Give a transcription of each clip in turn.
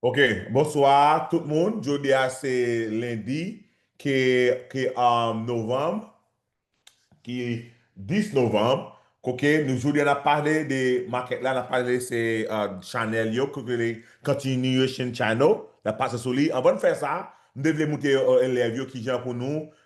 Ok bonswa tout moun jodi a se lendi ki novanm ki 10 novanm ok nou jodi a nap pale de market la nap pale se chanèl yo ki rele continuation channel nap pase sou li avan n fè sa m te vle moutre elèv yo kijan pou nou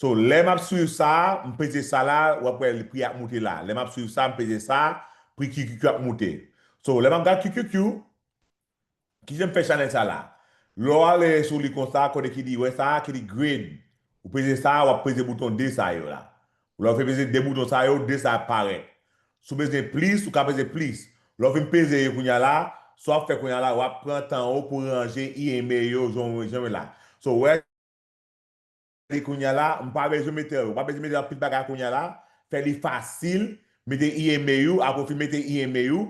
So lè map swiv sa m peze sa la wap wè prix ap moute la lè map swiv sa m peze sa prix QQQ ap moute so lè map gad QQQ kijan m fè chanèl sa la lè w ale sou li konsa kote ki di wè sa ki di grade ou peze sa wap peze bouton 2 sa yo la lè w fin peze 2 bouton sa yo 2 sa ap parèt si w bezwen plis ou ka peze plis lè w fin peze yo kounya la sa wap fè kounya la wap pran tan ou pou ranje IME yo jan w wè la so wè. Gade kounya la m pa bezwen metel ou pa bezwen mete anpil bagay kounya la fè li fasil mete email ou aprè ou fin mete email ou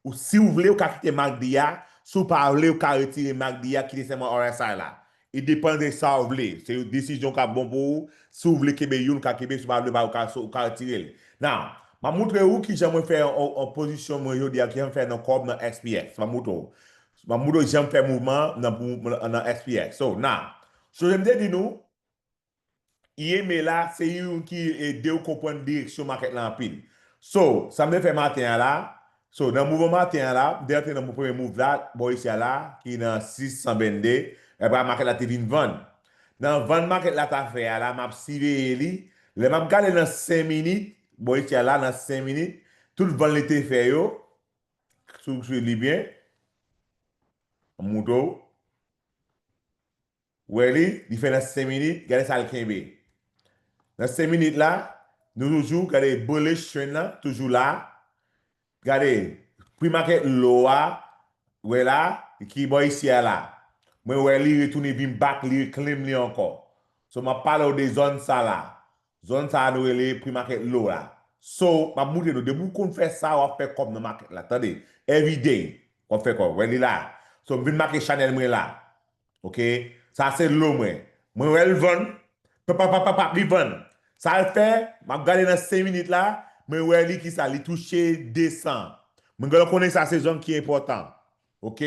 ou siw vle ou ka kite mak di a si w pa vle ou ka retire mak di a kite sèlman rsi la e depan de sa ou vle se yon desizyon kap bon pou ou si w vle kenbe youn ou ka kenbe si w pa vle ba ou ka retire l now map moutre ou kijan mwen fè yon pozisyon mwen jodi a kijan m fè nan kò m nan SPX map moutre w map moutre w janm fè mouvman nan SPX so now Sonje m te di nou IME la se youn ki edew konprann direksyon market la anpil. So, sa m te fè maten an la, so nan mouvman maten an la, m te antre nan premye mouv la bò isi a la ki nan 6 122, epa market la te vin vann. Nan vann market la ta fè a la, m ap siveye li, lè m ap gade nan 5 minit, bò isi a la nan 5 minit, tout vann li te fè yo, si w swiv li byen, m moutre w. Wè li, li fè nan 5 minit, gade sa l kenbe. Nan 5 minit la, nou toujou, gade bullish trend lan toujou la. Gade, pre market low a, wè la, ki bò isi a la. Mwen wè li retounen vin back li reclaim li ankò. So m ap pale w de zòn sa la. Zòn sa nou rele pri market low la so map moutre nou depi ou konn fè sa wap fè kòb nan market la tande everyday wap fè kòb wè li la so m vin make chanèl mwen la ok sa se low mwen mwen wèl vann papapapap li vann sal fè map gade nan 5 minit la mwen wè li kisa li touche 200 mwen genlè konnen sa se zòn ki enpòtan Ok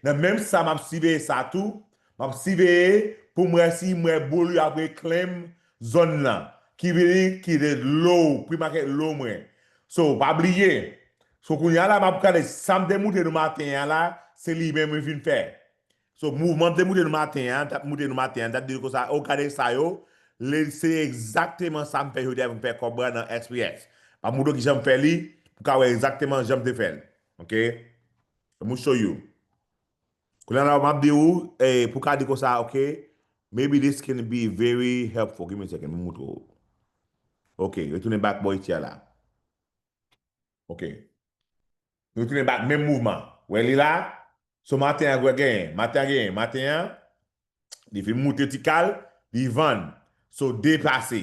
nan menm sa map siveye sa tou map siveye poum wè si m wè boul yo ap re claim zòn lan ki vini ki the low prix market low mwen so pa bliye so kounya la map gade sam te moute nou maten an la se li menm mwen vin fè so mouvman m te moute nou maten an tap moute nou maten an tap di nou konsa oh gade sa yo le se egzakteman sam fè jodi a poum fè kòb nan SPX map moutre w kijan m fè li pou ka wè egzakteman janm te fèl ok. Mouche you. Kounya la map di ou pou ka di konsa ok maybe this can be very helpful give me a second pou m moutre ou ok retounen back bò iti a la ok retounen back menm mouvman wè li la so maten an wè genyen maten an genyen maten an li fin moutre ti kal li vann so deplase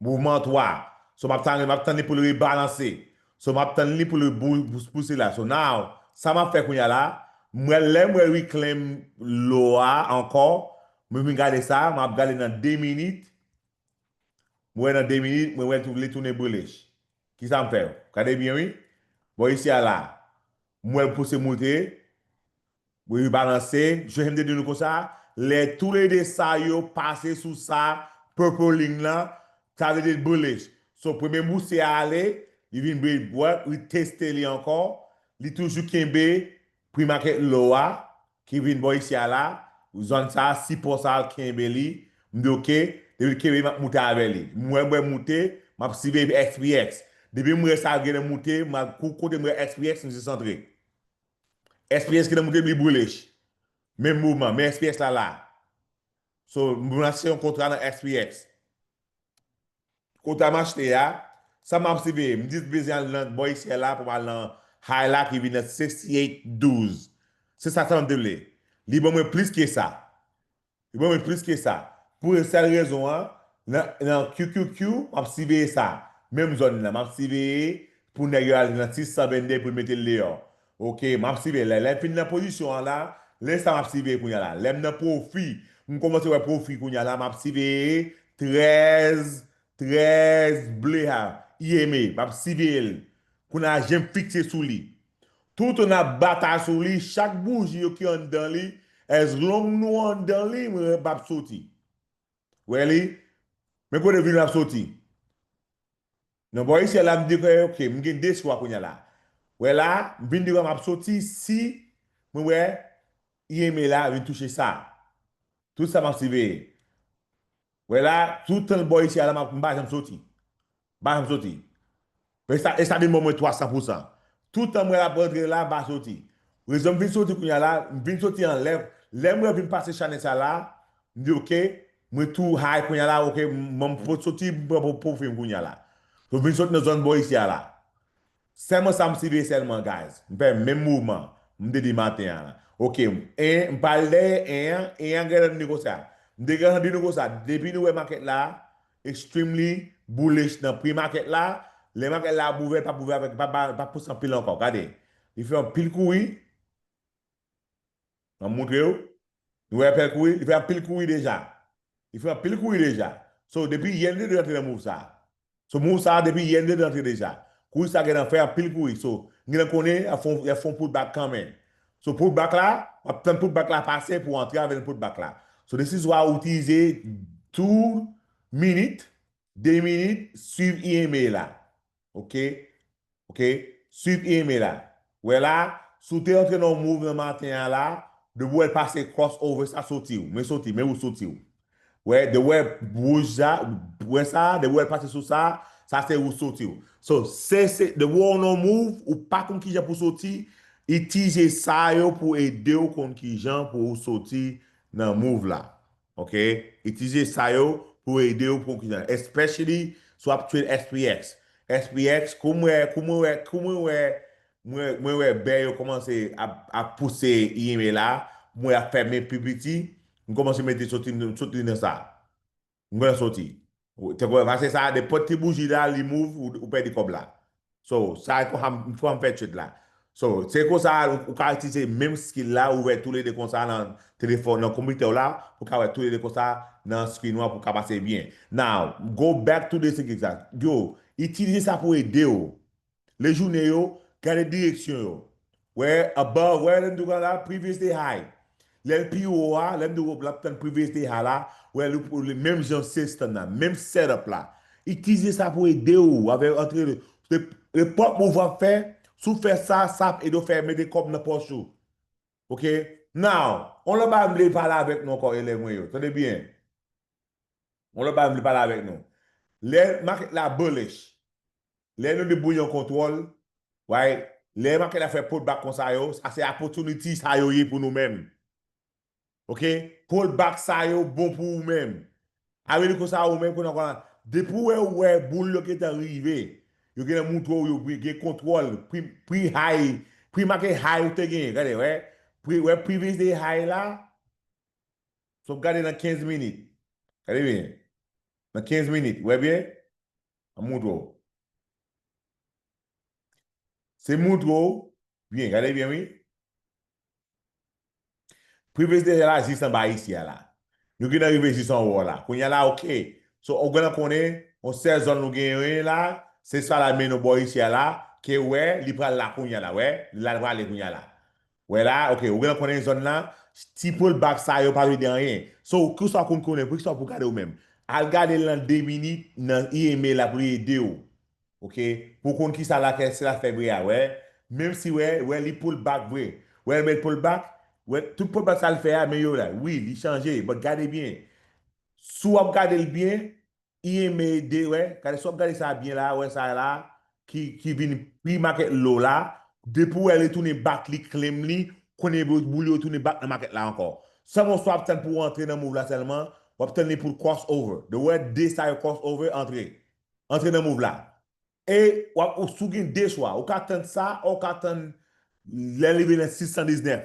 Mouvman 3 So map tann map tann li poul rebalanse So map tann li poul repouse la So now sa map fè kounya la M wè lèm wè reclaim lo a ankò mwen vin gade sa map gade nan 2 minit mwen wè nan 2 minit mwen wè li tounen bullish kisa m fè yo gade byen wi bò isi a la m wèl pouse moute Wi wi balanse, jan kem te di nou konsa, lè tou le 2 sa yo pase sou sa purple ling lan, sa vle di bullish. So premye boursier a ale, li vin break break, li teste li ankò, li toujou kenbe pre market low a ki vin bò isi a la, zòn sa, sipò sa al kenbe li, m di ok, depi l kenbe li map moute avè li. M wè bwè moute, map siveye SPX. Depi m wè sa al gen nan moute, m al kou kote m wè SPX m jis antre. SPS ki nan moun ke li boule ch menm moman men SPS la la so mwen achte yon kontra nan SPS kontra m achte a sa map siveye m di m bezyen al nan bò isyè la pou m al nan high la ki vin nan 68 12 se sa sa map di li li ban mwen plis ke sa Yo ban mwen plis ke sa. Pou yon sèl rezon an, nan QQQ, m ap siveye sa. Menm zòn nan, m ap siveye pou nèg yo al nan 622 pou yo mete l deyò. Ok, m ap siveye. Lè m fin nan pozisyon an la, lè sa m ap siveye kounye a la. Lè m nan pwofi, m kòmanse wè pwofi kounye a la, m ap siveye 13 13 ble ha i eme map siveye l kounya je m fikse sou li toutan nap batay sou li chak bouji yo ki anndan li as long nou anndan li m ret map soti wè li men kote vin map soti nan bò isyèl la m di ke ok m gen 2 chwa kounya la wè la m vin di wè map soti si mwen wè i eme la vin touche sa tout sa map siveye Wè la toutan bò isi a la m pa janm soti. M pa janm soti. Esa byen bon mwen 300 pou 100. Toutan m wè l ap rantre la m pa soti. Rezon m vin soti kounye a la, m vin soti anlè, lè m wè vin pase chanè sa la, m di ok, mwen tou high kounye a la ok m poko soti m pran profil m kounye a la. So m vin soti nan zòn bò isi a la. Sèlman sa m siviye sèlman guys m fè menm mouvman m te di maten an la ok m 1 m pa al dèyè 1 an 1 an genlè vini konsa m te gentan di nou konsa depi nou wè market la extremely bullish nan pri market la lè market la ap ouvè l pap ouvè avèk l pap pouse anpil ankò gade li fè yon pil kouri Map moutrew Nou wè fè kouri li fè anpil kouri deja li fè anpil kouri deja so depi yè nigga rantre nan move sa so move sa depi yè nigga rantre deja kouri sa gen nan fè anpil kouri so nigga nan konnen yap fon yap fon put back kanmenn so put back la wap tann put back la pase pou antre avèl nan put back la so this is why ou itilize two minit 2 minit swiv IMA la ok ok swiv e eme la wè la si w te antre nan yon move nan maten an la depi wè l pase cross over sa soti w men soti men ou soti w wè depi wè wouj sa wè sa depi wè l pase sou sa sa se ou soti w so se se depi wè w nan yon move ou pa konn kijan pou w soti itije sa yo pou ede w konn kijan pou ou soti nan move la Ok itilize sa yo pou ede ou pou kisa especially si wap trade SPX SPX kou mwen kou mwen wè kou mwen wè mwen mwen wè bè yo kòmanse ap ap pouse EMA la mwen ap fèmen pi piti m kòmanse mete soti m soti nan sa m pran soti Temporary pase sa nenpòt ki bouji la li mouv ou pèdi kòb la. So sa e konsa m fèm fè trade la. So se konsa ou ka itilize menm skill la ou ouvè tou le 2 konsa nan telefòn nan konpitè w la pou ka wè tou le 2 konsa nan screen ou an pou ka pase byen. Now go back to the thing exact. Yo itilize sa pou ede w. Le joune yo, gade direksyon yo. Where above, where lè m tou ka la, previous day high. Lè l pi wo a, lè m tou l ap tann previous day high la, where li pou li menm jan system nan, menm setup la. Itilize sa pou ede w avè antre repòt move w ap fè, si w fè sa, sa ap ede w fè mete kòb nan pòch ou. Ok, now, yon lòt bagay m vle pale avèk nou ankò elèv mwen yo, tande byen. Yon lòt bagay m vle pale avèk nou. Lè market la bullish, Lè nou di bouyon kontwòl, way, lè make la fè pull back konsa yo, sa se opportunity sa yo ye pou nou menm. Ok, pull back sa yo bon pou ou menm. A vle di konsa ou menm kounye a, depi ou wè ou wè boul yo gentan rive, yo gentan moutre ou yo gen kontwòl pri pri high, pri make high ou te genyen, gade wè, pri wè previous day high la, sop gade nan 15 minit, gade byen, nan 15 minit, wè byen? An montre w. Se montre w byen, gade byen wi. Prive se deja la jis anba isi a la. Nou gentan rive jis anwo a la. Kounya la ok. So ou gentan konnen yon sèl zòn nou genyen la, se sa la mennen w bò isi a la, ke ou wè li pral la kounya la, wè, li la li prale kounya la. Wè la, ok, ou genlè konnen zòn la, ti pol bak sa yo pa vle di anyen. So, kisa w konn konnen, poukisa w pou gade ou menm? Al gade l nan 2 minit nan IME la pou li ede w. Ok, pou w konn kisa la fè, se la fè bri a, wè. Menm si wè, wè li pol bak vre. Wè l met pol bak, wè, tout pol bak sa l fè a men yo la. Wi, li chanje, but gade byen. Si w ap gade l byen, Ieme de wè gade si wap gade sa byen la wè sa la ki ki vin pri makèt low la depi ou wè li tounen back li claim li konnen boul yo tounen back nan makèt la ankò sèlman ou swa ap tann pou antre nan move la sèlman wap tann li poul cross over de wè de sa yo cross over antre antre nan move la e wap ou sou gen de chwa ou ka tann sa ou ka tann lè li rive nan 619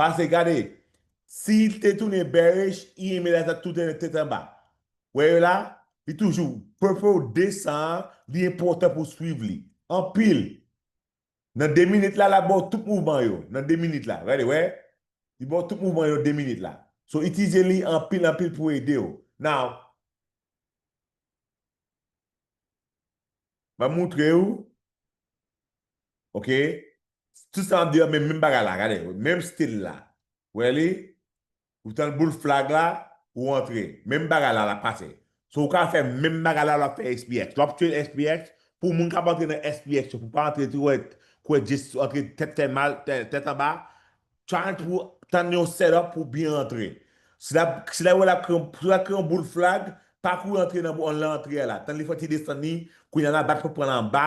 Pase gade si li te tounen bearish i enben la tap tout ane tèt anba wè yo la li toujou purple 200 an li enpòtan pou swiv li anpil nan 2 minit la lap baw tout mouvman yo nan 2 minit la gade wè li baw tout mouvman yo 2 minit la so itilize li anpil anpil pou edew now. Map moutre ou Ok Tout sa map di yo menm bagay la gade menm stil la Wè li Ou tande boul flag la Ou antre Menm bagay la lap pase So ou ka fè menm bagay la lap fè SPX Lap tchwel SPX Pou moun kap antre nan SPX yo pou pa antre tou wè Kouwè just antre tèt fè mal tèt anba Try pou tann yon setup pou byen rantre. Si lap wè lap kreye yon boul flag, pa kouri antre nan antre a la. Tann li fè ti desann li, kounya la bat pou pran l anba,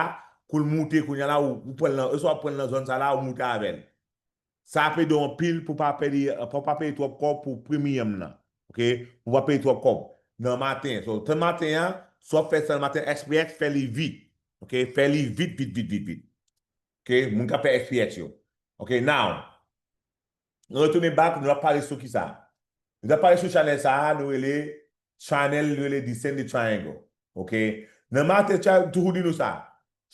koul moute kounya la ou pran l nan, oswa ou pran l nan zòn sa la ou moute avè l. Sa ap ede w anpil pou pa pèdi, pou pa peye twòp kòb pou premium nan. Ok, pou pa peye twòp kòb nan maten. So tann maten an, si wap fè sa nan maten, SPX fè li vit. Ok, fè li vit vit vit vit vit. Ok moun kap fè experience yo Ok now Nou retounen back nou ap pale sou kisa Nou tap pale sou channel sa nou rele Channel nou rele Descend the Triangle Ok Nan maten cha m toujou di nou sa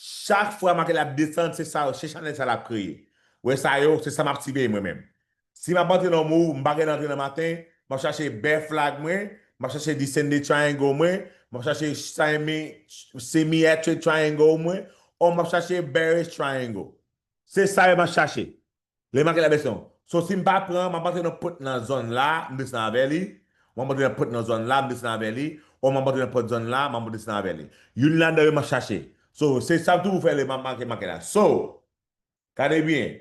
Chak fwa maten la ap desann se sa se channel sa lap kreye Ou wè sa yo se sa map siveye mwen menm Si m ap antre nan mou, m pa gen antre nan maten, m ap chache bear flag mwen, m ap chache descended triangle mwen, m ap chache semiatric triangle mwen, or m ap chache bearish triangle. Se sa yo m ap chache. Lè m ap gade abèsyon. So si m pa pran, m ap antre nan pot nan zòn la, m desann avè li, m ap antre nan pot nan zòn la, m desann avè li, or m ap antre nan pot zòn la, m ap desann avè li. Youn ladan yo m ap chache. So se sa m toujou fè lè m ap make maket la. So. Gade byen,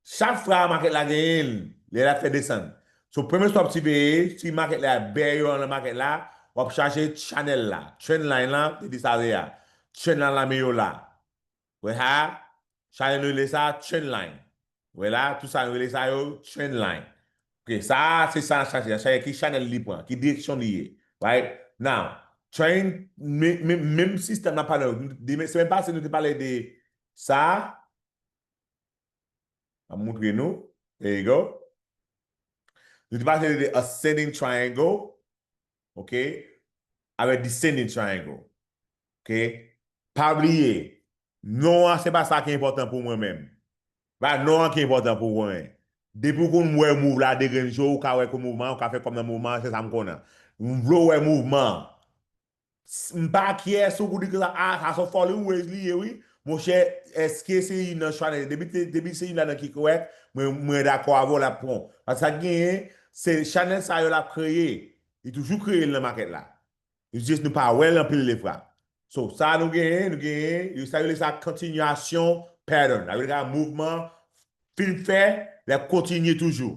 chak fra makèt la genyenl lè lap fè desann. So premye sa wap siveye si makèt la bè yo andan makèt la wap chache channel la, trend line la te di sa yè a, trend la la meyo la. Wè sa a, sa yo rele sa trend line. Wè la, tout sa yo rele sa yo trend line. Ok, sa a se sa nap chache, nap chache ki channel li pran, ki direksyon li ye. Right now, trend menm sistèm nap pale demen semèn pase nou te pale de Sa a ap moutre nou, there you go, nou te pase de ascending triangle, ok, avèk descending triangle, ok. Pa bliye, non an se pa sa ki enpòtan pou mwen menm. Se pa non an ki enpòtan pou mwen. Depi ou konn wè move la degrenn jo, ou ka wè ke mouvman an, ou ka fè kòm nan mouvman an, se sa m konn an. M vle w wè mouvman an. M pa kyè sou goudi konsa ah sa son fòli ou wez li ye wi monchè eske se yn nan chwa depi se yn ladan ki korèk mwen dakò avèw lap pran pask sa genyen se chanèl sa yo lap kreye li toujou kreye l nan makèt la jis nou pa wèl anpil defwa so sa nou genyen nou genyen yo sa yo rele sa kontinyasyon pattern sa vle di mouvman fin fè lap kontinye toujou.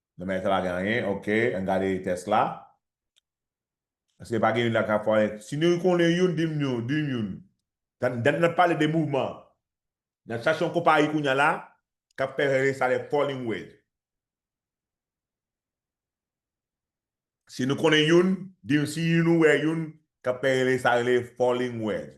Nan bagay sa pa gen anyen ok an gade tès la eske pa gen youn la ka fò si nou konnen youn dim yon dim youn dan dan nap pale de mouvman nap chache yon konpayi kounya la kap fè rele sa le falling wedge si nou konnen youn dim si youn nou wè youn kap fè rele sa rele falling wedge.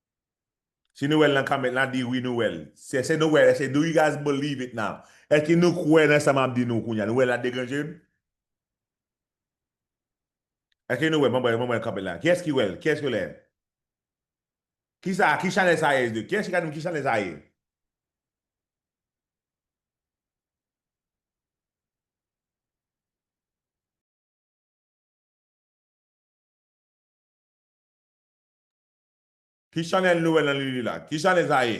Si nou wèl nan comment la di wi nou wèl. Eske nou wèl eske do you guys believe it now? Eske nou kwè nan sa map di nou kounya nou wèl la de gran jem? Eske nou wèl mwen mwen wè comment la kiyès ki wèl kiyès ki wèl? Kisa ki chanel sa ye de kiyès ki ka dim ki chanel sa ye? Ki chanel nou wè nan lili la? Ki chanel sa ye?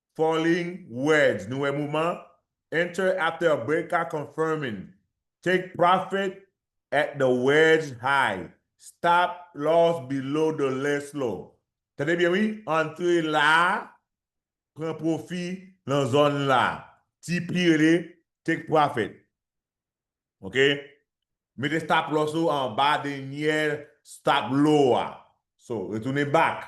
Falling words nou wè moman enter after a break a confirming take profit at the words high stop loss below the less low tande byen wi antre la a pran pwofi lan zòn la a TP rele take profit ok mete stop loss ou anba denyè stop low a so retounen back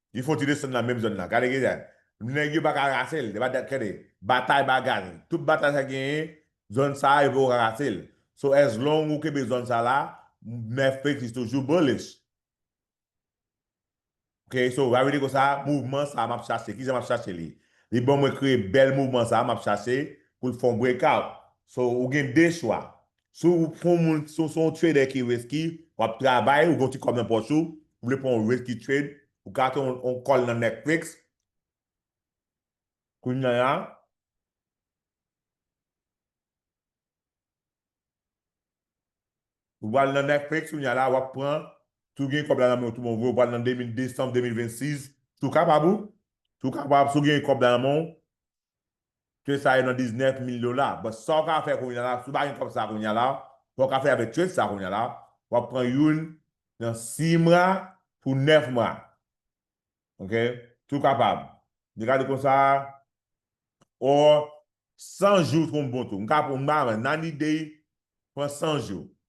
Li fon ti desann nan menm zòn nan. Gade ki sa. Nèg yo pa ka rase l. Tande. Batay bagay. Tout batay sa genyen, zòn sa a yo poko ka rase l. So as long ou kenbe zòn sa la, Mèf Petis toujou bullish. Ok, so Ravi di konsa, mouvman sa a m ap chache. Kijan m ap chache li? Li ban mwen kreye bèl mouvman sa a m ap chache pou l fè yon breakout. So ou gen 2 chwa. Si w se yon moun, si w se yon trader ki risky, w ap travay, ou gen yon ti kòb nan pòch ou, ou vle pran yon risky trade, ou ka achte yon call nan Netflix, kounya la, ou pral nan Netflix kounya la, w ap pran, si w gen kòb la nan men w tou bon vre, ou pral nan December 2026, si w kapab ou, si w kapab, si w gen kòb la nan men w, Trade sa ye nan 19 mil dola but sa ou ka fè kounya la si ou pa gen kòb sa kounya la sa ou ka fè avèk trade sa kounya la wap pran youn nan 6 mwa pou 9 mwa ok si ou kapab ni gade konsa or 100 jou trou bon tou m ka pran nan ni day pran 100 jou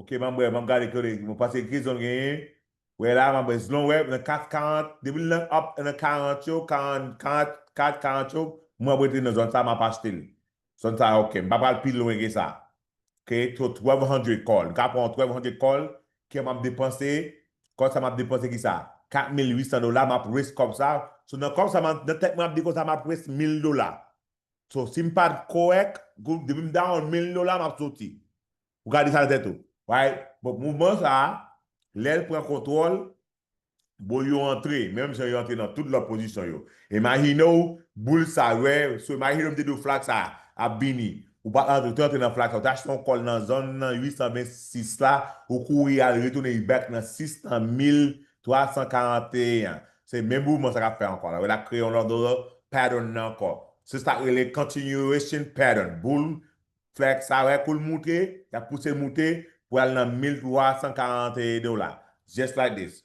Ok manbrè banm gade kole mwen panse grizon m genyen wè la manbrè zlon wè nan kat 40 depi l nan up nan 40 yo 40 kat 40 yo mwen ap rete nan zòn sa map achte l zòn sa ok m pa pral pi lwen ke sa ok to 1200 call m ka pran yon 1200 call ke map depanse call sa map depanse kisa 4800 dola map raise kòb sa so nan kòb sa nan tèt mwen map di konsa map raise 1000 dola so sim pat korèk depi m down 1000 dola map soti Ou ka di sa nan tèt ou. Why? Bon, mouvman sa a, lè l pran kontwòl, bon yo antre, menm jan yo antre nan tout lòt pozisyon yo. Imajine w boul sa a, wè, so imajine w m te di w flag sa a ap vini, ou pa antre, ou te antre nan flag sa a, ou te achte yon kòl nan zòn nan 826 la, ou kouri al retounen u back nan 6 nan 1341 an. Se menm mouvman sa a k ap fè ankò la. Wè l ap kreye yon lòt pattern nan ankò. Se sa k rele continuation pattern. Boul Fè sa wè kou l moute, y ap pouse l moute pou al nan 1341 dola. Just like this.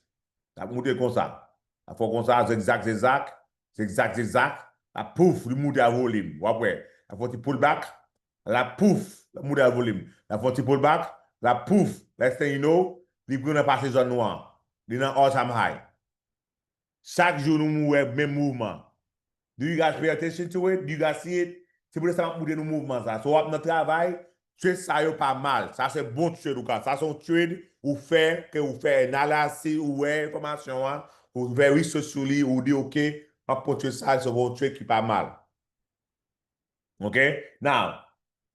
L ap moute konsa. L ap fè w konsa, zigzag, zigzag, zigzag, zigzag. La pouf, li moute a volim. W ap wè. L ap fè yon ti pull back. La pouf, l ap moute a volim. L ap fè yon ti pull back. La pouf, next thing you know, li pran nan pase zòn nwa an. Li nan all time high. Chak jou nou mou wè menm mouvman. Do you guys pay attention to it? Do you guys see it? Se pou lè sa map moutre nou mouvman sa. So wap nan travay, trade sa yo pa mal. Sa se bon trade ou ka. Sa se yon trade ou fè ke ou fè analasi, ou wè enfòmasyon an, ou fè research sou li, ou di ok, map pran trade sa, se yon trade ki pa mal. Ok? Now,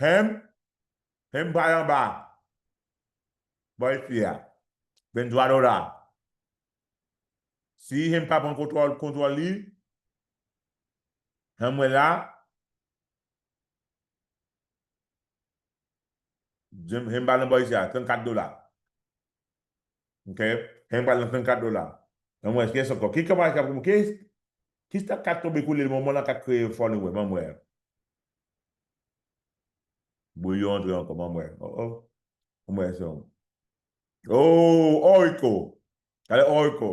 Humm humm bay anba boy fi a Ben Duardo la si humm pa pran kontwòl kontwòl li humm mwen la humm ba nan boy fi a 34 dola. Ok Kany pral nan 34 dola Banm wè Kes ankò Ki kanpay kap Ki Ki stock kap tonbe koulye le moman lan kap kreye fò nou wè Banm wè Bouyon antre ankò Banm wè Oh oh Banm wè Sion Oh Orico Gade Orico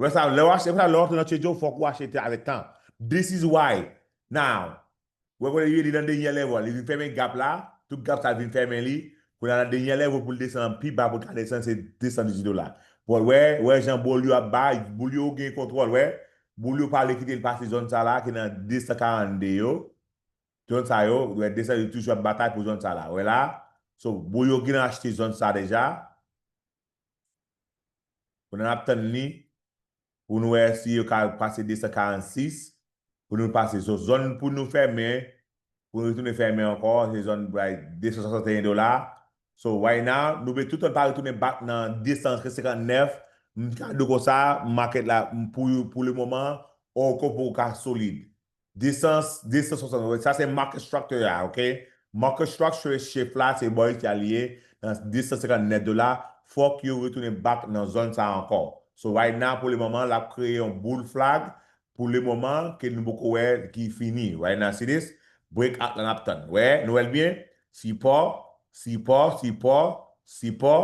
Wè sa, lè w achte, se pou sa lè w antre nan Trader Joe fòk ou achete avèk tan. This is why, now. Wè kounye li li nan denyè level, li vin fèmen gap la, tout gap sa vin fèmen li, kounye a nan denyè level pou l desann pi ba pou l ka desann se 218 dola. But wè, wè jan boul yo ap bay, boul yo gen kontwòl wè, boul yo pale kite l pase zòn sa la ki nan 242 yo, zòn sa yo, wè 200 yo toujou ap batay pou zòn sa la, wè la, so boul yo gin achte zòn sa deja, Pandan nap tann li pou nou wè si yo ka pase 246 pou nou pase son zòn pou nou fèmen pou nou retounen fèmen ankò se zòn bay 261 dola so right now nou vle toutan pa retounen back nan 259 m ka diw konsa market la pou pou le moman ou ko pou ka solid Desans 260 sa se market structure ya ok market structure chif la se bò isi a li ye nan 250 nèt dola fòk yo retounen back nan zòn sa ankò so right now pou le moman lap kreye yon boul flag pou le moman ke nou poko wè ki fini right now see this break out la nap tann wè nou wèl byen sipò sipò sipò sipò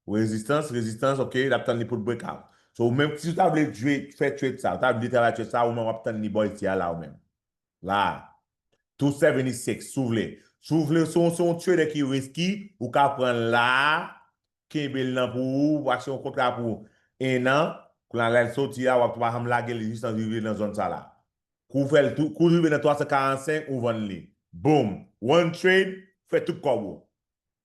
Resistance resistance ok lap tann li poul break out so ou menm si ou ta vle jwe fè trade sa ou ta vle travay trade sa ou menm wap tann li bò isi a la ou menm la a 276 si w vle si w vle si w se yon trader ki risky ou ka pranl la a kenbel nan pou ou wap se yon kontra pou 1 an kounye a lèl soti a wap tou pa janm lagel jis nan rive nan zòn sa la kou w fèl tou kou l rive nan 345 ou vann li boom one trade fè tout kòb ou.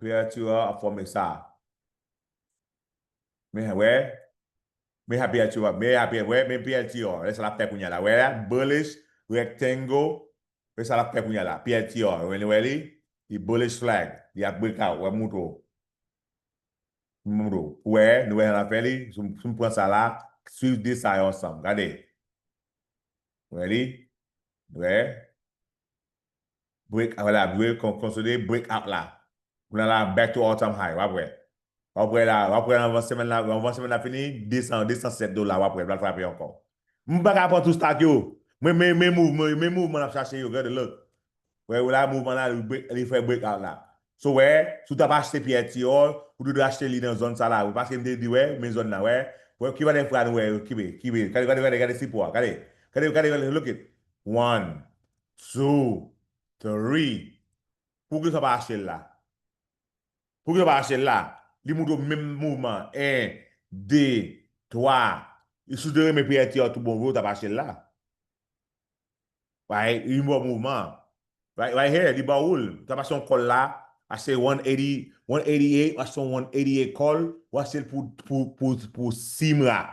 Kreyati a ap fòme sa. Men wè, men sa Kreyati a, men sa wè, men Kreyati a, wè sa l ap fè kounye a la, wè a, bullish rectangle, wè sa l ap fè kounye a la, Kreyati a, wè li, wè li, li bullish flag, li ap break out, wè m montre w, m montre w, ou wè, nou wè sa l ap fè li, si m pran sa la, swiv 2 sa yo ansanm, gade, wè li, wè. Break out la dwe konsole break out la pou la la back to all time high wap wè wap wè la wap wè anvan semèn la anvan semèn la fini 200 207 dola wap wè li pral frape ankò m paka pran tou stock yo men men men mouvman yo men mouvman lap chache yo gade look wè ou la mouvman la li break li fè break out la so wè si ou tap achte pyè ti or ou dwe dwe achte li nan zòn sa la paske m te di wè men zòn nan wè wè ki valè fra nou wè kibe kibe gade gade gade gade sipò a gade gade gade look it one Two, three, Pou ki sa w pa achte l la? Pou ki sa w pa achte l la? Li montre w menm mouvman an, 1, 2, 3, e si w te renmen piyati a tou bon vre ou t ap achte l la. Right? Li ba w mouvman an. Right, right here, li ba ou l. Ou t ap achte yon kòl la, achte 180, 188, ou achte yon 188 kòl, ou achte l pou, pou, pou, pou simra.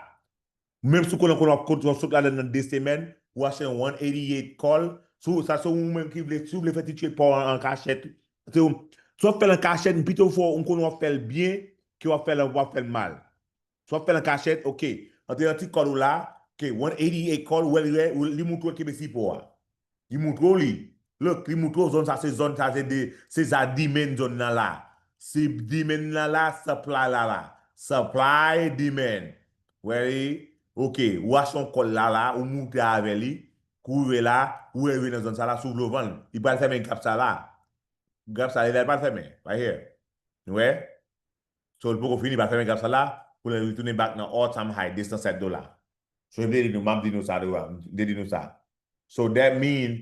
Menm si w konnen konnen w ap kontre yon sot ladann nan 2 semèn, ou achte yon 188 call, si w sa se ou menm ki vle, si w vle fè ti trade pa w an an kachèt, se ou, si w ap fè l an kachèt m pito fè w, m konnen w ap fè l byen ke w ap fè l an, w ap fè l mal. Si w ap fè l an kachèt, ok, antre nan ti call ou la, ok, 188 call, ou wè li, li montre w kenbe sipo a. Li moutre w li. Look, li moutre w zòn sa se zòn sa se de se sa demand zòn nan la. Se demand la la, supply la la. Supply, demand. Ready? Ok, ou achte yon kòl la la, ou moute avè li, kou ou rive la, ou rive nan zòn sa la si ou vle ou vann l. Li pral fèmen gap sa la. Gap sa li la li pral fèmen. Right here. Nou wè? So li poko fini pa fèmen gap sa la pou lèl retounen back nan all time high 207 dola. So m te di nou map di nou sa tou a m te di nou sa so that mean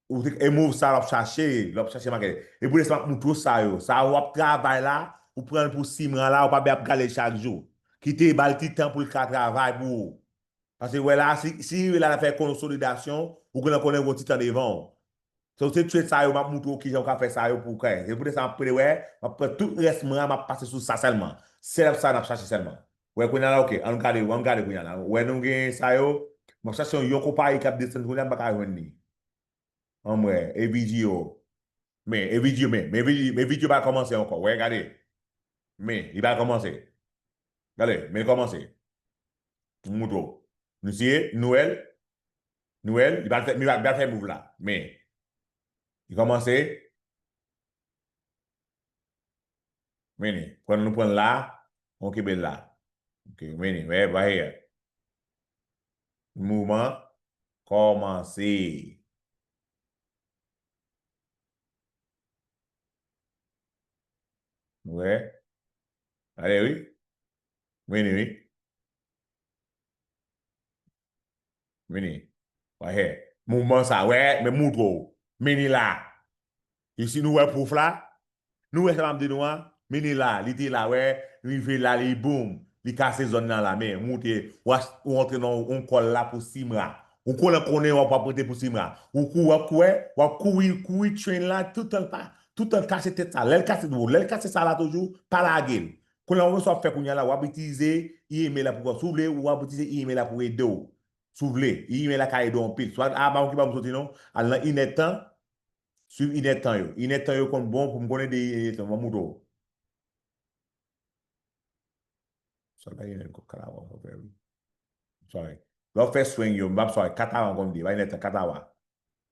ou te e move sa wap chache lè wap chache make e pou lè sa map moute w sa yo sa wap travay la ou pranl pou simran la ou pa bè ap gadel chak jou kite bal ti tan poul ka travay pou ou paske wè la si rive la lap fè konsolidasyon ou genlè konnen ou gon ti tan devan w Se ou se tchwet sa yo map moutre ou kijan ou ka fè sa yo pou ou kay. Se poutèt sa map pwede wè, map pran tout rès mwen an map pase sou sa sèlman. Setup sa nap chache sèlman. Wè kounya la ok, ann gade yo, ann gade kounya la. Wè nou gen sa yo, map chache yon yon konpayi kap desann kounya m paka jwenn li. Anm wè, e video. Me, e video me, me video, me video pa kòmanse ankò, wè gade. Me, li pa kòmanse. Gade, me l kòmanse. M moutre ou. Nou siye, nou wè l. Nou wèl, li pral fè mirak, li pral fè move la. Men, li kòmanse. Mennen, pran nou pran la, on kenbe la. Ok, mennen, wè, right here. Mouvman kòmanse. Nou wè. Ale wi. Mennen wi. Vini. Wayè. Mouvman sa. Wè. Mwen moutre w. Mini la. E si nou wè pwof la? Nou wè sa map di nou a? Mini la. Li te la wè. Rive la li boom. Li kase zòn nan la men. Moute. W'as ou antre nan yon kòl la pou simra. Ou konnen w konnen w'ap w'ap rete pou simra. Ou kou w'ap kou wè. W'ap kouri kouri train la toutan l pa toutan l kase tèt sa. Lè l kase lè l kase sa la toujou pa lage l. Kounye a wè sa wap fè kounye a la wap itilize e-mail la pou wè si w vle wap itilize e-mail la pou ede w si w vle e-mail la ka ede w anpil so a pa okipe a pou m soti non al nan inèd tan swiv inèd tan yo inèd tan yo konn bon pou m konn ede inèd tan banm moutre w sa bay inèd kòb katawa wap fè wi sorry lè w fè swing yo m pap sorry katawa m konn di bay inèd tan katawa.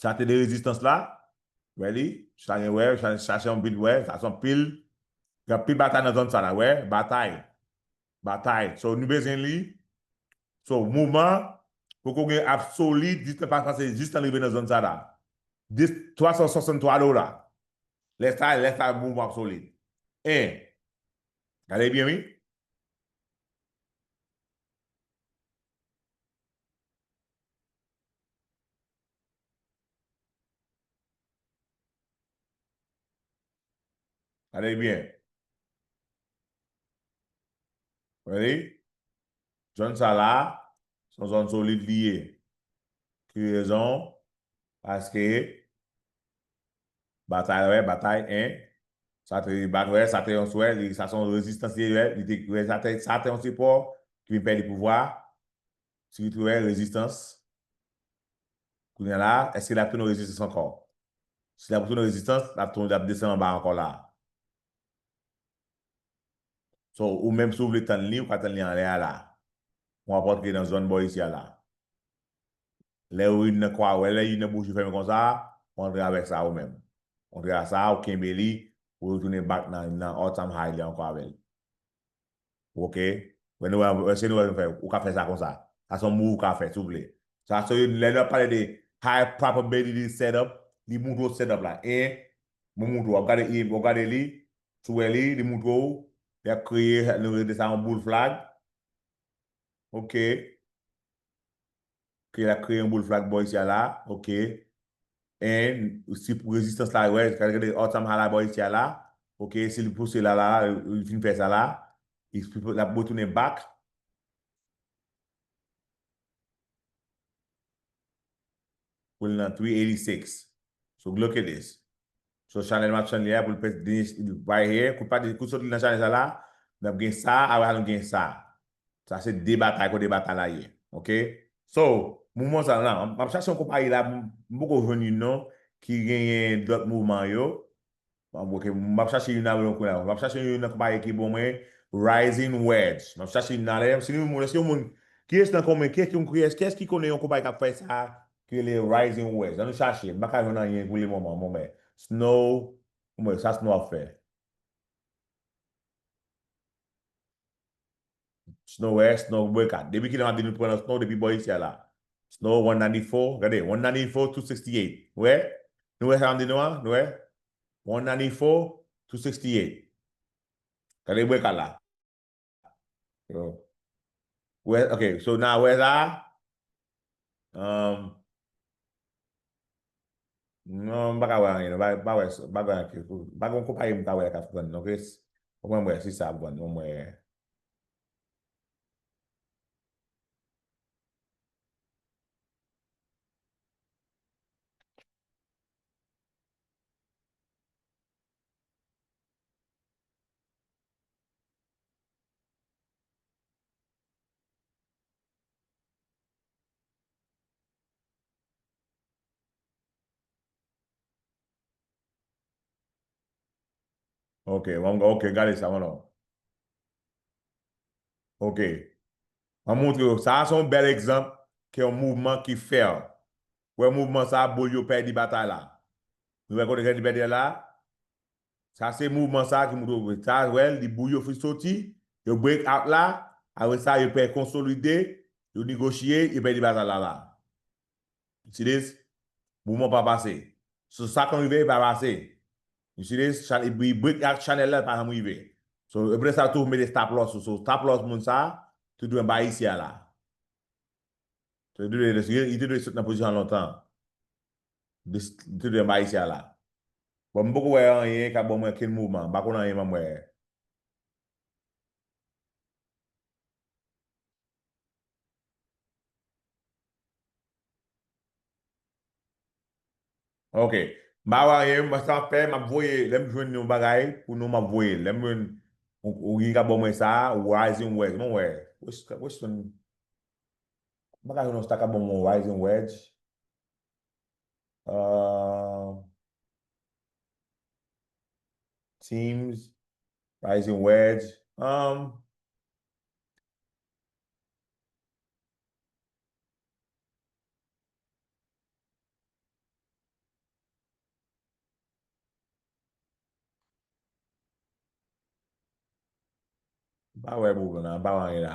Sa te de rezistans la, wè li, sa gen wè, sa se yon vil wè, sa se yon pil, gen anpil batay nan zòn sa la wè, batay, batay, so nou bezwen li, so moman, poko gen absoli, distans pa pase jis nan rive nan zòn sa la, dis, 363 do la, lè sa, lè sa moman ap solid, 1, gade byen wi. Gade byen. Ready? Zòn sa la, se yon zòn solid li ye. Ki rezon? Paske, batay wè, batay 1, sa te bat wè, sa te yon swè, sa se yon rezistans li ye, li te wè sa te yon sipò, ki vin pèdi pouvwa. Si li te wè rezistans, kounye a la a, èske l ap tounen rezistans ankò? Si l ap retounen rezistans, l ap tonbe, l ap desann anba ankò la a. So, ou menm si ou vle tann li, ou ka tann li anlè a la a. Ou ap antre nan zòn bò isi a la a. Lè ou rive nan kwa a, ou wè lè youn nan bouch yo fèmen konsa a, ou antre avèk sa a ou menm. Ou antre a sa a, ou kenbe li, ou retounen back nan All Time High li ankò avè l. Ok Mwen nou wè se nou wè nou fè ou ka fè sa konsa sa son move ou ka fè si ou vle sa so lè nap pale de high probability setup li moutre ou setup la en mwen moutre ou wap gade en wap gade li si ou wè li li moutre ou li ap kreye nou rele sa yon boule flag ok. ke lap kreye yon boul flag boys ya la ok and si pou rezistans la wè kal gade awesome hala boys ya la ok si li pouse la la li fin fè sa la lap retounen back pou l nan 386 so look at this. So chanèl map chanèl ya poul pèt deny right here kou pa kou sot li nan chanèl sa la nap gen sa apre sa nou gen sa sa se 2 batay kote batay la ye ok so mouvman sa la map chache yon konpayi la m poko jwenn yn non ki genyen dòt mouvman yo ok map chache yn avèw kounye la map chache yon nan konpayi ki bon mwen rising wedge map chache yon nan lè si nou si yon moun kiyes nan konmen kiyes kiyes kiyes ki konnen yon konpayi kap fè sa ki rele Rising West. An nou chache, m pa ka jwenn anyen pou le moman mwen mè. Snow, m wè sa Snow ap fè. Snow West, Snow Boycott. Depi kilè m ap di nou pran nan Snow depi bò isi a la. Snow 194, gade, 194 to 68. Nou wè? Nou wè sa m di nou an? Nou wè? 194 to 68. Gade Boycott la. Yo. Wè, ok, so na wè la. Um, non, baka wè anyen, ba ba wè, ba wè anyen. Ba gon konpayi m ka wè ka fwen, ok? Ou mwen mwen si sa bon, ou mwen. Ok, wang, ok, gade sa, wang. Ok. An montre yo, sa a son bèl egzanp ke yon mouvman ki fèl. Wè mouvman sa a, boul yo pèdi batay la. Nou wè kote Jean Duverdier la? Sa se mouvman sa ki moutre w sa wè li bouyi yo fin soti yo break out la apre sa yo pè konsolide yo nigochiye yo pèdi batay la la you see this mouvman pa pase so sa konn rive pa pase you see this chan li break out chanèl la li pa janm rive so epre sa yo toujou mete stop loss sou so stop loss moun sa te dwe anba isi a la li te dwe sot nan pozisyon an lontan. Tout de m ayisyen ala. Bon m poko wè anyen ka ban mwen okenn moman. M pa konn anyen ban m wè. Ok. M pa wè anyen. Mwen sa m ap fè, m ap voye. Lè m jwenn yon bagay pou nou m ap voye l. Lè m jwenn yon ki ka ban mwen sa, Rising Wedge. M wè. Weston. M pa ka jwenn yon sa k ap ban mwen yon Rising Wedge. Ahh. Teams. Rising Wedge. Ahh. Mpa wè pou nou la, mpa wè anyen la.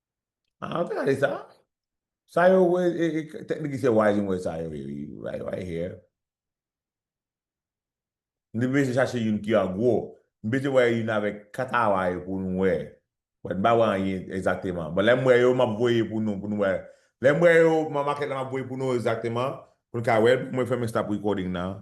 Ah, ou te gade sa? Sa yo we, e, e, tèt li ki se wise mwen sa yo ye, wi, right, right here. M te bese chache youn ki an gwo. M bese wè youn avèk kat awa yo pou nou wè. But m pa wè anyen egzakteman. But lè m wè yo, m ap voye pou nou, pou nou wè. Lè m wè yo, m ap make la, m ap voye pou nou egzakteman, pou nou ka wè l, pou mwen fèmen stop recording nan.